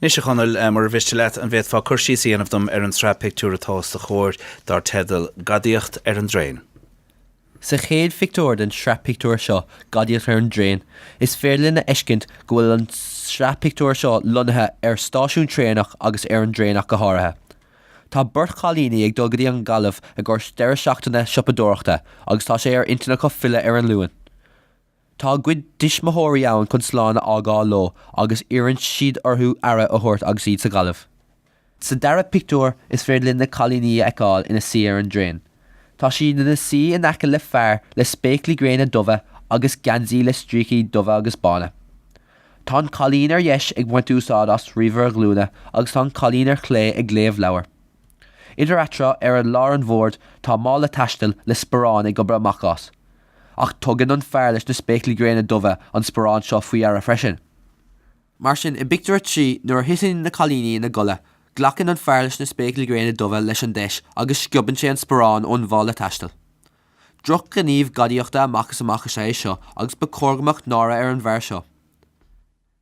Anois, a Chonaill, mura mhiste leat, an bhféadfá cur síos a dhéanamh dom ar an tsraith pictiúr atá os do chomhair, dar teideal Gadaíocht ar an dTraein? Sa chéad phictiúr den tsraith pictiúr seo, Gadaíocht ar an dTraein, is féidir linn a fheiscint go bhfuil an tsraith pictiúr seo lonnaithe ar stáisiún traenach agus ar an dtraein ach go háirithe. Tá beirt chailíní ag dul go dtí an Ghaillimh i gcomhair deireadh seachtaine siopadóireachta agus tá sé ar intinn acu filleadh ar an Luan. Tá a gcuid dtuismitheoirí ann chun slán a fhágáil leo agus iarrann siad orthu aire a thabhairt agus iad sa Ghaillimh. Sa dara pictiúr, is féidir linn na cailíní a fheiceáil ina suí ar an dtraein. Tá siad ina suí in aice le fear le spéaclaí gréine dubha agus geansaí le stríocaí dubha agus bána. Tá an cailín ar dheis ag baint úsáid as ríomhaire glúine agus tá an cailín ar chlé ag léamh leabhair. Idir eatarthu, ar lár an bhoird, tá mála taistil le sparán ag gobadh amach as. Ach tugann an fear leis na spéaclaí gréine dubha an sparán seo faoi dheara freisin. Mar sin, i bpictiúr a trí, nuair a thiteann na cailíní ina gcodladh, glacann an fear leis na spéaclaí gréine dubha leis an deis agus sciobann sé an sparán ón mhála taistil. Drochghníomh gadaíochta amach is amach is ea é seo agus ba chóir go mbeadh náire ar an bhfear seo.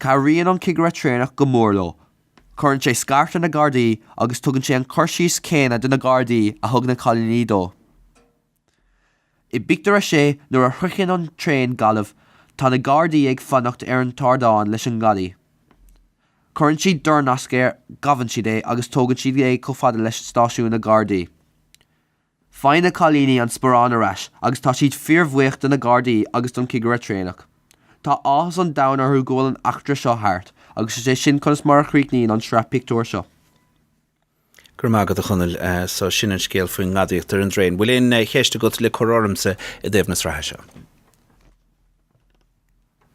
Cabhraíonn an cigire traenach go mór leo. Cuireann sé scairt ar na gardaí agus tugann sé an cur síos céanna do na gardaí a thug na cailíní dó. I bpictiúr a sé, nuair a shroicheann an traein Gaillimh, tá na gardaí ag fanacht ar an t-ardán leis an ngadaí. Cuireann siad dornasc air, gabhann siad é agus tugann siad é chomh fada leis stáisiún na gardaí. Faigheann na cailíní an sparán ar ais agus tá siad fíorbhuíoch de na Gardaí agus don chigire traenach. Tá áthas an domhain orthu go bhfuil an eachtra seo thart agus is é sin conas mar a chríochnaíonn an tsraith pictiúr seo. Go raibh maith agat, a Chonaill. So, sin an scéal faoin ngadaíocht ar an dtraein. Bhfuil aon cheist agat le cur ormsa i dtaobh na sraithe seo?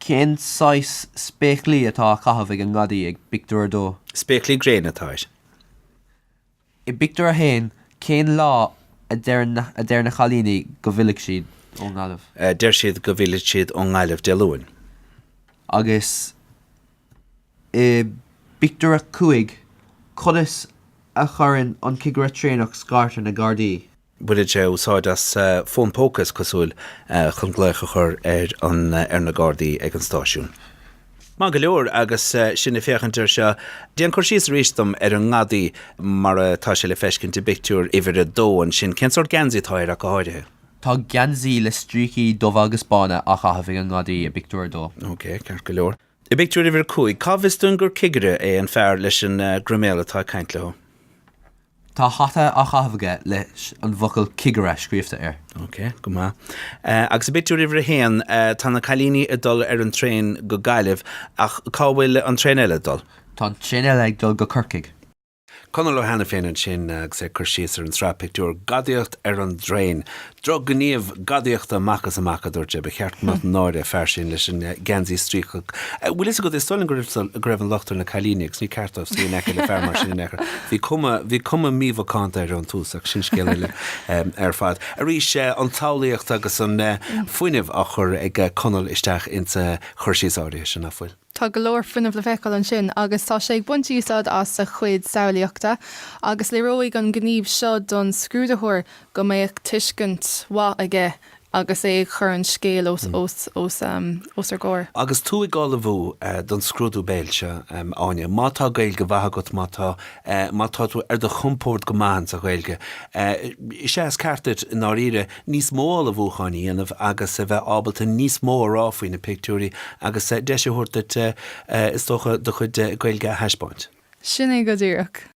Cén saghas spéaclaí atá á chaitheamh ag an ngadaí i bpictiúr a dó? Spéaclaí gréine atá air. I bpictiúr a haon, cén lá a deir na cailíní go bhfillfidh siad ón nGaillimh? Deir siad go bhfillfidh siad ón nGaillimh Dé Luain. Agus i bpictiúr a cúig, conas a chuireann an cigire traenach scairt ar na Gardaí? Baineann sé úsáid as fón póca, is cosúil, chun glaoch a chur ar na Gardaí ag an stáisiún. Maith go leor, agus sinn ag féachaint air seo, déan cur síos arís dom ar an ngadaí mar atá sé le feiscint i bpictiúr uimhir a dó ansin. Cén sórt geansaí atá air ach go háirithe? Tá geansaí le stríocaí dubha agus bána á chaitheamh ag an ngadaí i bpictiúr a dó. Ok, ceart go leor. I bpictiúr uimhir a cúig, cá bhfios dúinn gur cigire é an fear leis an gcroiméal atá ag caint leo? Tá hata á chaitheamh aige leis an bhfocal 'Cigire' scríobhta air. Ok, go maith. Agus i bpictiúr uimhir a haon, tá na cailíní ag dul ar an traein go Gaillimh, ach cá bhfuil an traein eile ag dul? Tá an traein eile ag dul go Corcaigh. Conall Ó hAiniféin ansin agus é ag cur síos ar an tsraith pictiúr 'Gadaíocht ar an dTraen'. Drochghníomh gadaíochta amach is amach, a dúirt sé. Ba cheart go mbeadh náire ar an bhfear sin leis an geansaí stríocach. Bhfuil fhios agat, is dóigh liom go raibh an locht ar na cailíní agus ní ceart dóibh suí in aice le fear mar sin in aon chor. Bhí cuma, bhí cuma mímhacánta air ón tús ach sin scéal eile ar fad. Arís, an tsamhlaíocht agus an fuinneamh á gcur ag Conall isteach insa gcur síos áirithe sin, nach bhfuil? Tá go leor fuinnimh le feiceáil ansin agus tá sé ag baint úsáid as a chuid samhlaíochta agus léireoidh an gníomh seo don scrúdaitheoir go mbeadh tuiscint mhaith aige agus é ag cur an scéal os ár gcomhair. Agus tú ag ullmhú don scrúdú béil seo, Áine, má tá Gaeilge mhaith agat, má tá, má tá tú ar do chompord go maith in sa Ghaeilge, is é is ceart duit, i ndáiríre, níos mó ullmhúcháin a dhéanamh agus a bheith ábalta níos mó a rá faoi na pictiúirí agus deis a thabhairt duit is dócha do chuid Gaeilge a thaispeáint. Sin é go díreach.